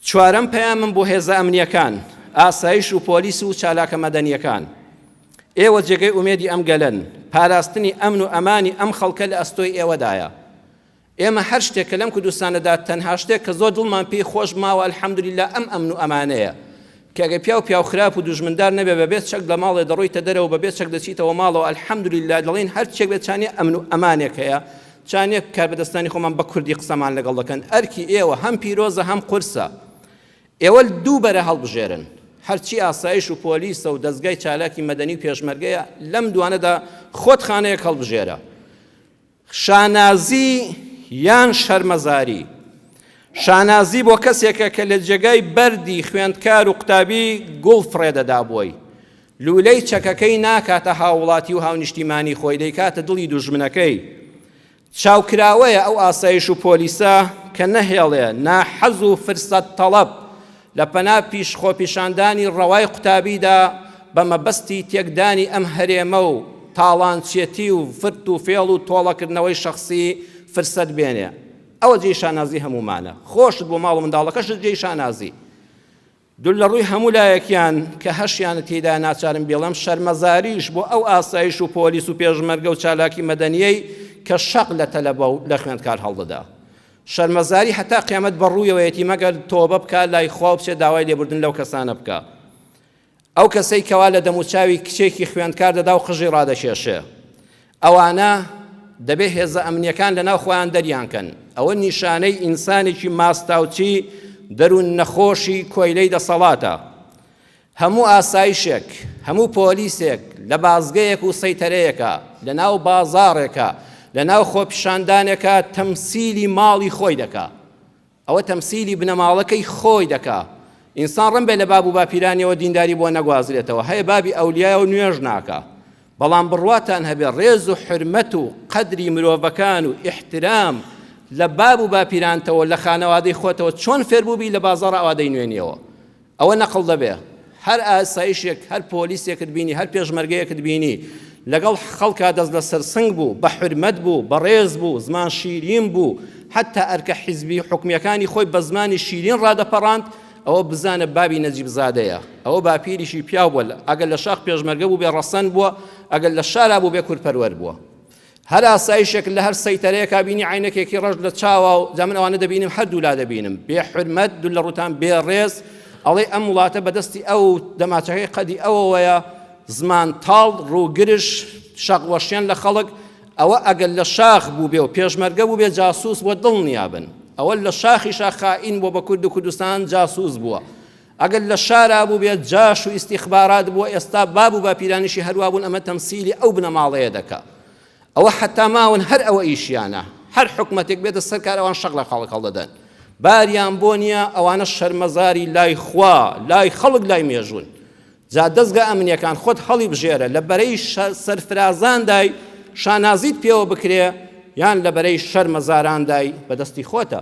چوارەم پەیامم بۆ هێزە ئەمنیەکان، ئاسایش و پۆلیس و چالاکە مەدەنیەکان، ئێوە جێگەی ئومێدی ئەم گەلەن، پاراستنی ئەمن و ئەمانی ئەم خەڵکە لە ئەستۆی ئێوەدایە. ئێمە هەر شتێک کە لەم کوردستانەدا تەنها شتێک کە زۆر دڵمان پێی خۆش ماوە الحمدللە ئەم ئەمن و ئەمانەیە کە گە پیاو پیاو خراپ و دوژمندار نەبێ بە بێ چەک لە ماڵێ دەڕۆیتە دەرەوە بە بێ چەک دەچیتەوە ماڵەوە الحمدللە دەڵێن هەر چێک بێ چانێ ئەمن و ئەمانێک هەیە چانێک کاربەدەستانی خۆمان بە کوردی قسەمان لەگەڵ دەکەن ئەرکی ئێوە هەم پیرۆزە هەم قورسە ئێوە دوو بەرە هەڵبژێرن هەرچی ئاسایش و پۆلیسە و دەستگای چالاکی مەدەنی و پێشمەرگەیە لەم دوانەدا خۆت خانەیەک هەڵبژێرە شانازی یان شەرمەزاری، شانازی بۆ کەسێکە کە لە جێگای بەردی خوێندکار و قوتابی گوڵ فڕێدەدا بۆی، لوولەی چەکەکەی ناکاتە هاووڵاتی و هاونیشتیمانی خۆی، دەیکاتە دڵی دوژمنەکەی. چاوکراوەیە ئەو ئاسایش و پۆلیسە کە نەهێڵێ ناحەز و فرسەت تەڵەب لە پەنا پیش خۆپیشاندانی ڕەوای قوتابیدا بە مەبەستی تێکدانی ئەم هەرێمە و تاڵانچێتی و فرت و فێڵ و تۆڵەکردنەوەی شەخسی فرسەت بێنێ ئەوە جێی شانازی هەموومانە خۆشت بۆ ماڵ و منداڵەکەشت جێی شانازی دول لە ڕووی هەموو لایەکیان کە هەشیانە تێدا ناچارم بێڵم شەرمەزاریش بۆ ئەو ئاسایش و پۆلیس و پێشمەرگە و چالاکی مەدەنیەی کە شەق لە تەلەبە و لە خوێندکار هەڵدەدا شەرمەزاری هەتا قیامەت بەڕوویەوەیەتی مەگەر تۆبە بکا لای خوا و بچێ داوای لێبوردن لەو کەسانە بکا ئەو کەسەی کەوا لە دەموچاوی کچێکی خوێندکار دەدا و قژی ڕادەکێشێ ئەوانە دەبێ هێزە ئەمنیەکان لەناو خۆیان دەریانکەن ئەوە نیشانەی ئینسانێکی ماستاوچی دەروون نەخۆشی کۆیلەی دەسەڵاتە هەموو ئاسایشێک، هەموو پۆلیسێک لە بازگەیەک و سەیتەرەیەکە، لە ناو بازاڕێکە، لە ناو خۆپیشاندانێکە تەمسیلی ماڵی خۆی دەکا. ئەوە تەمسیلی بنەماڵەکەی خۆی دەکا. ئینسان ڕەم بێ لە باب و باپیرانیەوە دینداری بۆ نەگوازرێتەوە. هەیە بابی ئەولیایە و نوێژ ناکا. بەڵام بڕواتان هەبێ ڕێز و حورمەت و قەدری مرۆڤەکان و ئیحترام لە باب و باپیرانتەوە لە خانەوادەی خۆتەوە چۆن فێربووبی لە بازاڕ ئاوادەی نوێنیەوە. ئەوە نەقڵ دەبێ هەر ئاسایشێک هەر پۆلیسێکت بینی هەر پێشمەرگەیەکت بینی لەگەڵ خەڵکا دەست لە سەرسنگ بوو بە حرمەت بوو بەڕێز بوو زمان شیرین بوو حتا ئەرکە حیزبی حکومیەکانی خۆی بە زمانی شیرین ڕادەپەڕاند ئەوە بزانە بابی نەجیبزادەیە ئەوە باپیریشی پیاو بووە ئەگەر لە شاخ پێشمەرگە بوو بێ ڕەسەن بووە ئەگەر لە شارا بوو بێ کورپەروەر بووە هەر ئاسایشێک لە هەر سەیتەرەیەکا بینی عینەکێکی ڕەش لە چاوا و جا من ئەوانە دەبینم هەردوولا دەبینم بێ حرمەت دوو لە ڕوتان بێ ڕێز ئەڵێ ئەم وڵاتە بەدەستی ئەو دەماچەکەی قەدی ئەوەوەیە زمان تاڵ ڕووگرش شەقوەشیان لە خەڵک ئەوە ئەگەر لە شاخ بوو بێ و پێشمەرگە بوو بێ جاسوس بۆ دڵنیابن ئەوە لە شاخی شاخائین بۆ بە کورد و کوردستان جاسوس بووە ئەگەر لە شارا بوبێت جاش و ئیستیخبارات بوە ئێستا باب و باپیرانیشی هەروا بون ئەمە تەمسیلی ئەو بنەماڵەیە دەکا ئەوە حەتا ماون هەر ئەوە ئیشیانە هەر حکومەتێک بێتە سەر کار ئەوان شەق لە خەڵک هەڵدەدەن باریان بۆ نییە ئەوانە شەرمەزاری لای خوا لای خەڵک لای مێژون جا دەستگا ئەمنیەکان خۆت هەڵی بژێرە لە بەرەی سەرفرازاندای شانازیت پێوە بکرێ یان لە بەرەی شەرمەزاراندای بەدەستی خۆتە